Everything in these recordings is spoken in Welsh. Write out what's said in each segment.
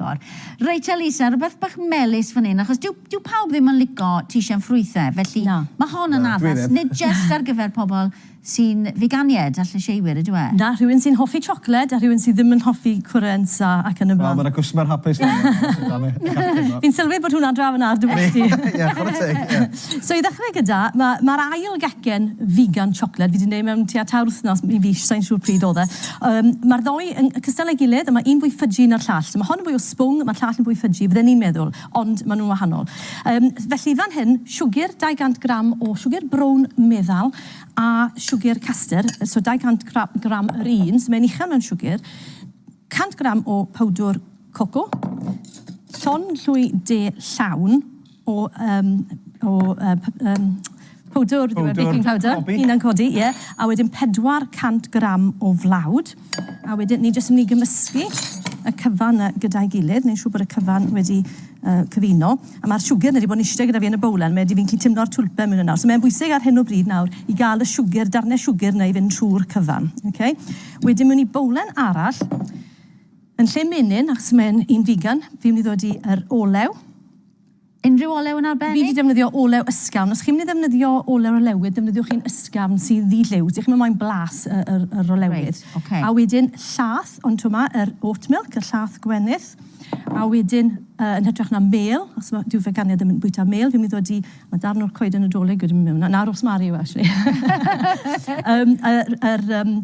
agor. Reit Elisa, rhywbeth bach melys fan hyn, achos dyw, dyw pawb ddim yn lico tîsio yn ffrwythau, felly Na. mae hon yn Na, dwi addas, ddim. nid jyst ar gyfer pobl sy'n figanied a llysieuwyr, ydyw e? Na, rhywun sy'n hoffi siocled a rhywun sydd ddim yn hoffi cwrensa ac yn y Wel, blaen. mae 'na gwsmer hapus fan'na, os ydan ni, gallwn ni ddweud. Fi'n sylwi bod hwnna'n draw yn ard dy bwys di. Ie, chwarae teg, ie. So i ddechrau gyda, ma' ma'r ail gecen figan siocled fi 'di neud mewn tua tair wythnos i fis, sai'n siŵr pryd o'dd e. Yym ma'r ddou yn cystal â'i gilydd a ma' un fwy ffydgi na'r llall. So ma' hon yn fwy o swng, ma'r llall yn fwy ffydgi fydden i'n meddwl, ond ma' nw'n wahanol. Yym felly fan hyn, siwgr, 200 gram o siwgr brown meddal a siwgr castr, so 200 gra- gram yr un, so mae'n uchel mewn siwgr, 100 gram o powdwr coco, llond llwy de llawn, O yym o yy p- yym powdwr ydyw e? Powdwr. Baking powder. Cobi. Hunan codi ie. A wedyn 400 gram o flawd. A wedyn ni jyst yn myn' i gymysgu y cyfan 'na gyda'i gilydd, neu'n siŵr bod y cyfan wedi yy cyfuno. A ma'r siwgr ni 'di bod yn iste gyda fi yn y bowlen, mae 'di fi'n gallu timlo'r twlpen myn' 'na nawr. So mae'n bwysig ar hyn o bryd nawr i ga'l y siwgr, darne siwgr 'na i fynd trw'r cyfan. Ok? Wedyn mewn i bowlen arall Yn lle menyn, achos mae'n un figan, fi'n mynd i ddod i yr olew. Unrhyw olew yn arbennig? Fi 'di defnyddio olew ysgafn. Os chi'n mynd i ddefnyddio olew olewydd, defnyddiwch un ysgafn sy'n ddi-liw. Dych chi'm yn moyn blas y yr yr olewydd. Reit, ocê. A wedyn llath, ond 'to 'ma yr oat milk, y llath gwenith. A wedyn, yy, yn hytrach na mêl, os ma'... Dyw feganiad ddim yn bwyta mêl, fi'n mynd i ddod i... Ma' darn o'r coeden Nadolig wedi mynd mewn 'na. Na, rosemary yw e, actually. Yym, yr yr yym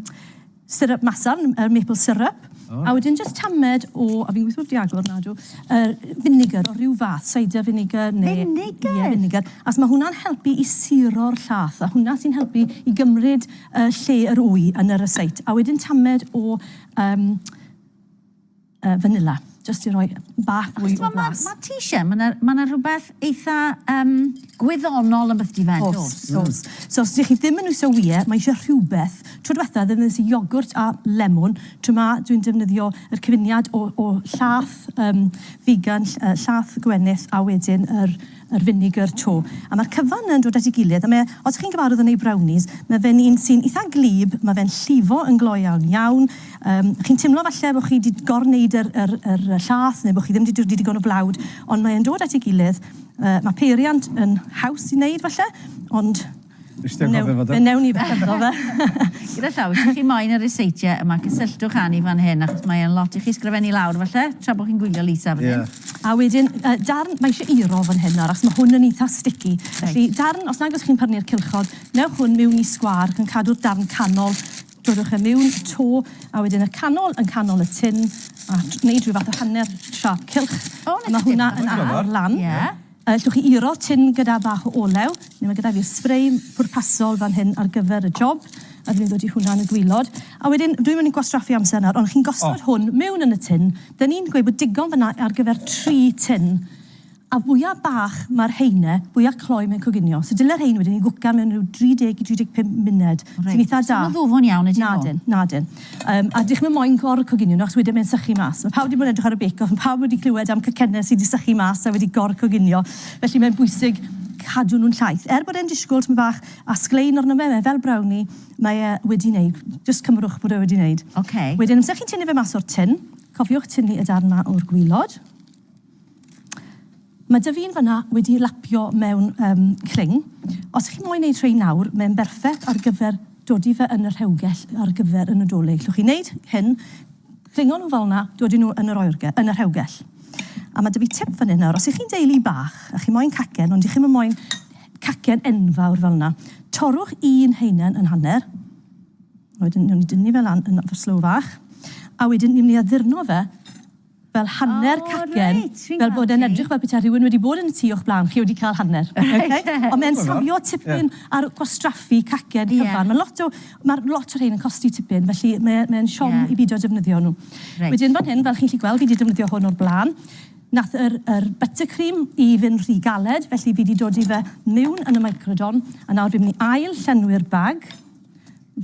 Syrup masarn, yr maple syrup. Oh. A wedyn just tamed o, a fi'n gweithio di agor nadw, yr vinegar o rhyw fath, cider vinegar neu... Vinegar? Ie, vinegar. As mae hwnna'n helpu i siro'r llath, a hwnna sy'n helpu i gymryd uh, lle yr wy yn yr yseit. A wedyn tamed o... Um, Yy vanilla. Jyst i roi bach fwy o flas. Ma' ti isie, ma' 'na ma' 'na rwbeth eitha yym gwyddonol ambell di fed do's? O's, o's. So os dych chi ddim yn iwsio wye, mae isie rhywbeth. Tro dwetha ddefnyddies i iogwrt a lemwn, tro 'ma dwi'n defnyddio yr cyfuniad o o llath yym figan ll- yy llath gwenith a wedyn yr Yr vinegar to. A mae'r cyfan yn dod at ei gilydd, a mae, os chi'n gyfarwydd yn ei brownies, mae fe'n un sy'n eitha gwlyb, mae fe'n llifo yn glo iawn iawn. Yym, chi'n timlo falle bod chi wedi gor-wneud yr yr yr llath, neu bod chi ddim wedi dodi digon o flawd, ond mae e'n dod at ei gilydd. Yy, mae peiriant yn haws i wneud falle, ond Nes ti anghofio fo do? Fe newn ni fe hefo fe. Gyda llaw, os ydych chi moyn yr ryseitiau yma, cysylltwch â ni fan hyn, achos mae e'n lot i chi sgrifennu lawr falle, tra bod chi'n gwylio Lisa fan hyn. Ie. A wedyn, yy darn, mae eisiau iro fan hyn nawr, achos mae hwn yn eitha sticky. Reit. Felly, darn, os nag os chi'n pyrnu'r cylchod, newch hwn miwn i sgwâr, ac yn cadw'r darn canol, dodwch e miwn, to, a wedyn y canol, yn canol y tin, a t- neud rhyw fath o hanner siâp cylch. O, 'na ti. A ma' hwnna yn ail lan. Ie. Allwch chi uro tin gyda bach o olew, neu mae gyda fi sbrei pwrpasol fan hyn ar gyfer y job, a dwi'n mynd i ddod i hwnna yn y gwaelod. A wedyn, dwi'm yn mynd i gwastraffu amser nawr, ond chi'n gosod hwn mewn yn y tin, dan ni'n gweud bod digon fan'na ar gyfer tri tin, a fwya bach mae'r heine, fwya cloi mae'n coginio. So dyle rhein wedyn i gwcan mewn ryw 30 i 35 munud, sy'n eitha da. Reit, so ma'n ddwfwn iawn ydyn nhw? Nadyn, nadyn. Yym, a dych chi'm moyn gor coginio nhw achos wedyn mae'n sychu mas. Mae pawb wedi bod yn edrych ar y bake off, mae pawb wedi clywed am cacennau sy' 'di sychu mas a wedi gor coginio, felly mae'n bwysig cadw nhw'n llaith. Er bod e'n disgwyl tymed bach a sglein arno fe, mae fel brownie, mae e wedi wneud. Jyst cymrwch bod e wedi wneud. Ocê. Wedyn amser chi'n tynnu fe mas o'r tin, cofiwch tynnu y darn 'ma o'r gwilod. Mae dyf un fanna wedi lapio mewn um, cling. Os chi'n moyn neud rhein nawr, mae'n berffeth ar gyfer dod i fe yn y rhewgell ar gyfer y Nadolig. Llwch chi wneud hyn, clingo nhw fel yna, dod i nhw yn yr, oerge, yn y rhewgell. A mae dyf i tip fan hyn nawr. Os ych chi'n deulu bach a chi moyn cacen, ond ych chi'n moyn cacen enfawr fel yna, torrwch un heinen yn hanner, wedyn ni'n dynnu fe lan yn fy slow fach, a wedyn ni'n mynd i addurno fe fel hanner cacen, fel bod e'n edrych fel petai rhywun wedi bod yn y tŷ o'ch blaen chi wedi cael hanner. Oce? Ond mae'n sowlio tipyn ar gwastraffu cacen cyfan. Mae lot o... mae lot o rhein yn costi tipyn, felly mae e... mae'n siom i beidio defnyddio nhw. Wedyn fan hyn, fel chi'n gallu gweld, fi 'di defnyddio hwn o'r blaen. Wnaeth yr... yr buttercream i fynd rhy galed, felly fi 'di dodi fe miwn yn y microdon, a nawr fi'n mynd i ail-llenwi'r bag.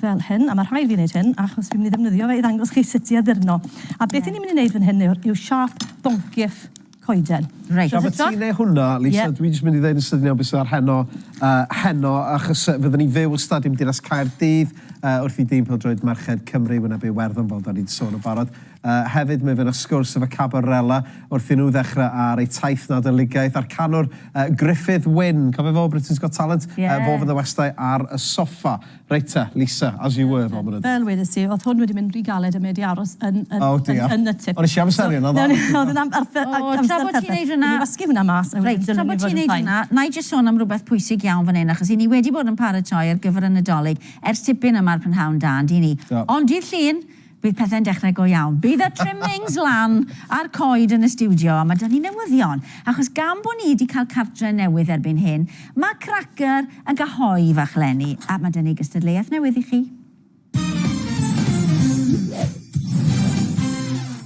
fel hyn, a mae rhaid fi wneud hyn achos fi'n mynd i ddefnyddio fe i ddangos chi sut i addurno. A beth yeah. ni'n mynd i wneud fan hyn yw, yw siap boncyff coeden. Reit. Siap y ti neu hwnna, Lisa, yeah. dwi'n mynd i ddweud yn sydyn iawn beth sydd ar heno, uh, heno, achos uh, fyddwn ni'n fyw o stadiwm Dinas Caerdydd uh, wrth i dîm pildroed Merched Cymru, wyna byw Werddon, fel da ni'n sôn yn barod, Yy hefyd mi fydd 'na sgwrs efo Cabar Rela wrth i nhw ddechrau ar eu taith Nadoligaidd a'r canwr yy Gruffydd Wyn, cofio fo o Britain's Got Talent? Ie. Yy fo fydda westai ar y soffa. Reit te, Lisa, as you were fo mynyddodd. Fel wedes i, o'dd hwn wedi mynd ry galed a mi 'di aros yn yn yn O diar. yn y tŷ. O'n neshi amseru yna ddo. O'dd yn am- arth- yy O, amser tra bo' ti'n neud hwnna... Newn ni wasgu hwnna mas a wedyn Reit, tra bo' ti'n neud hwnna, na'i jyst sôn am rwbeth pwysig iawn fan 'yn achos 'yn ni wedi bod yn paratoi ar gyfer y Nadolig ers tipyn yma ar prynhawn da, on'd 'yn ni? Do. Ond dydd Llun, Bydd pethe'n dechrau go iawn. Bydd y trimmings lan a'r coed yn y stiwdio a mae 'da ni newyddion, achos gan bod ni 'di cael cartre newydd erbyn hyn, mae Cracyr yn cael hoe fach leni a mae 'da ni gystadleuaeth newydd i chi.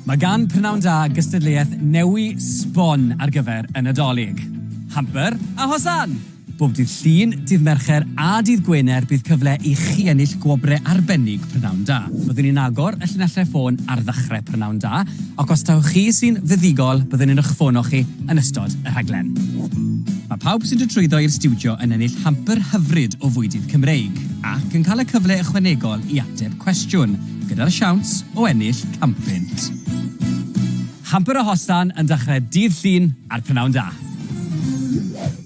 Mae gan Prynhawn Da gystadleuaeth newy sbon ar gyfer y Nadolig. Hamper a hosan! Bob dydd Llun, dydd Mercher a dydd Gwener bydd cyfle i chi ennill gwobrau arbennig Prynhawn Da. Byddwn ni'n agor y llinellau ffôn ar ddechrau Prynhawn Da ac os taw chi sy'n fuddugol byddwn ni'n eich ffono chi yn ystod y rhaglen. Mae pawb sy'n dod trwyddo i'r stiwdio yn ennill hamper hyfryd o fwydydd Cymreig ac yn cael y cyfle ychwanegol i ateb cwestiwn, gyda'r siawns o ennill can punt. Hamper o Hostan yn dechrau dydd Llun ar Prynhawn Da.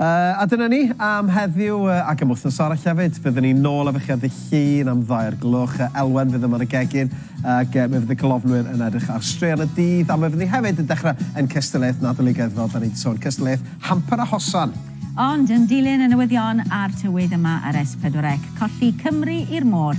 A dyna ni am heddiw ac am wythnos arall hefyd. Fyddwn ni nôl efo chi ar ddydd Llun am ddau o'r gloch. Elwen fydd yma yn y gegin ac mi fydd y golofnwyr yn edrych ar straeon y dydd a mi fyddwn ni hefyd yn dechrau ein cystadleuaeth Nadoligaidd fel 'dan ni 'di sôn, cystadleuaeth Hamper a Hosan. Ond yn dilyn y newyddion a'r tywydd yma ar S4C, colli Cymru i'r môr.